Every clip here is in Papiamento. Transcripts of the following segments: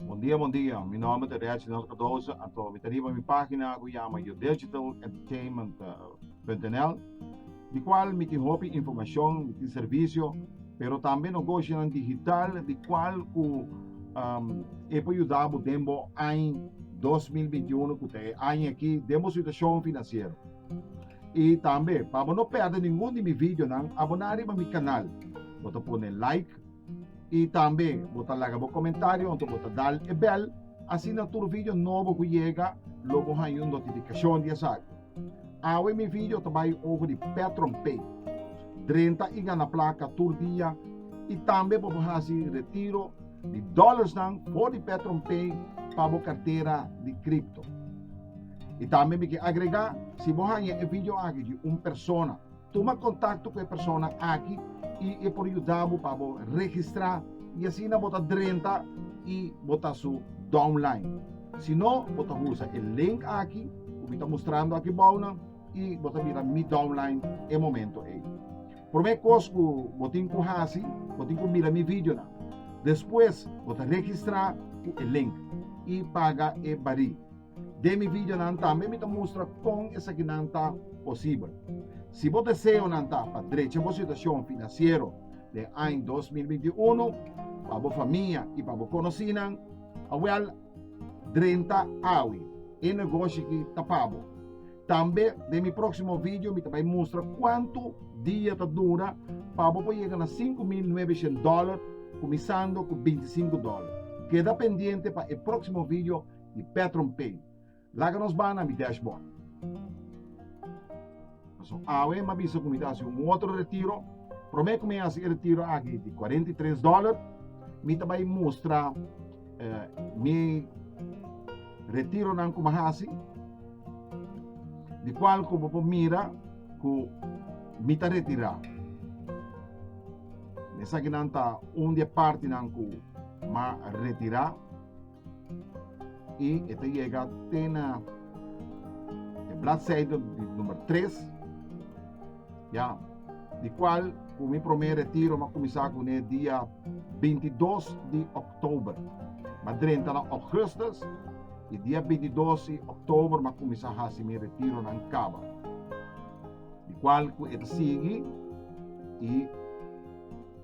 Bon dia bon dia, mi nomber ta Reginald Cardoso anto mi ta riba mi pagina cu yama yodigitalentertainment.nl di cual mi tin hopi informacion, mi tin servicio pero tambe nogoshonan digital di cual cu e por yuda bo den bo aña dos mil binti uno cu ta e aña aki den bo situacion financiero. I tambe, pa bo no pèrdè ningun di mi videonan, aboná riba mi kanal. Bo ta pone like i tambe bo ta laga bo komentario ento bo ta dal e bèl, asina tur video nobo ku yega lo bo haña un notifikashon di esaki. Awe mi video ta bai over di PetronPay. Drenta i gana plaka tur dia i tambe bo por hasi retiro di dòlersnan for di PetronPay pa bo kartera di kripto. I tambe mi ke agregá, si bo haña e video aki di un persona, tuma kontakto ku e persona aki i e por yuda bo pa bo registrá i asina bo ta drenta i bo ta su downline. Si no, bo ta usa e link aki ku mi ta mustrando aki bou nan i bo ta bira mi downline e momento ei. Promé kos ku bo tin ku hasi, bo tin ku mira mi videonan. Despues bo ta registrá ku e link i paga e barí. Den mi videonan tambe mi ta mustra kon esakinan ta posibel. Si bo deseonan ta pa drecha bo situashon finansiero den aña dos mil binti i unu, pa bo famia i pa bo konosinan, awèl, drenta awe e negoshi aki ta pa bo. Tambe den mi próksimo video mi ta bai mustra kuantu dia ta dura pa bo por yega na sinku mil nuebe shènt dòler kuminsando ku binti sinku dòler. Keda pendiente pa e próksimo video di Petron Pay. Laga nos baha na mi dashboard. Paso awe m'a bisa ku mi ta hasi un otro retiro. Promé ku mi a hasi e retiro aki di kuarenta i tres dòler, mi ta bai mustra mi retironan ku mi a hasi, di kual ku bo por mira ku mi ta retirá. Esakinan ta un di e partinan ku m'a retirá. i e ta yega te na e bladseide di number 3 ya di kual ku mi promé retiro mi a kuminsá kuné dia 22 di òktober mi a drenta na ògùstus i dia 22 di òktober mi a kuminsá hasi mi retironan kaba di kual ku e ta sigui i.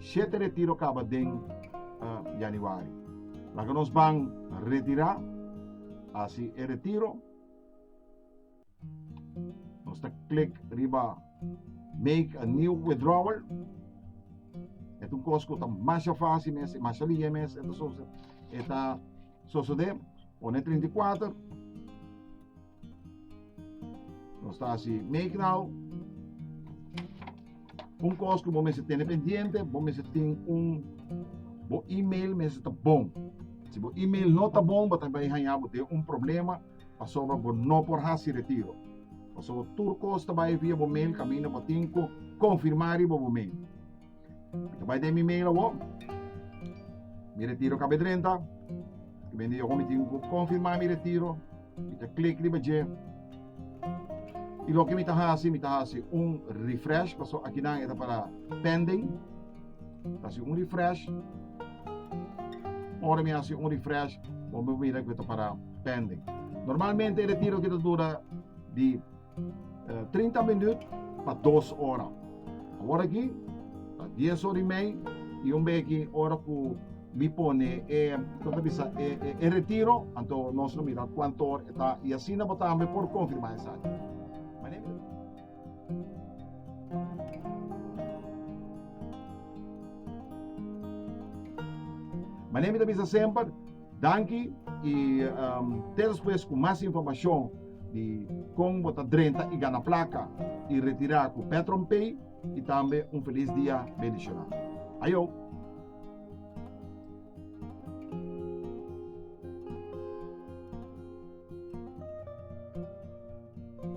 Shete retiro kaba den uh, Januari. Laga nos ban retirá, asi e retiro. Nos ta klik riba make a new withdrawal. Et un kos ku ta masha fácil mes, e masha liye mes, eta sosa, eta sosode, one 34, Nos ta hasi make now. Un kos ku bo mester tene pendiente, bo mester tin un bo email mester ta bon. Si bo email no ta bon, bo ta bai haña bo den un problema pasobra bo no por hasi retiro. Pasobra tur kos ta bai via bo mail kaminda bo tin ku konfirmá riba bo mail. Mi ta bai den mi mail awor. Mi retiro kab'e drenta. Te kende yoho mi tin ku konfirmá mi retiro. Mi ta klik riba dje. I loke mi ta hasi, mi ta hasi un refresh, paso akinan e ta para pending. Ta hasi un refresh. Ora mi hasi un refresh, bo mi mira ku e ta para pending. Normalmente e retiro akí ta dura di 30 minut pa dos ora. Awor aki, ta 10 ora y mei y un bey aki ora cu mi pone e, como ta bisa, e, e, e retiro, anto nos lo mira cuanto hora e ta y asina bo tambe por confirma esaki. Mane mi lo mira. Mane mi ta bisa semper. Danki i te despues ku mas informashon di kon bo ta drenta i gana plaka i retirá ku Petron Pay i tambe un felis dia bendishoná. Ayo!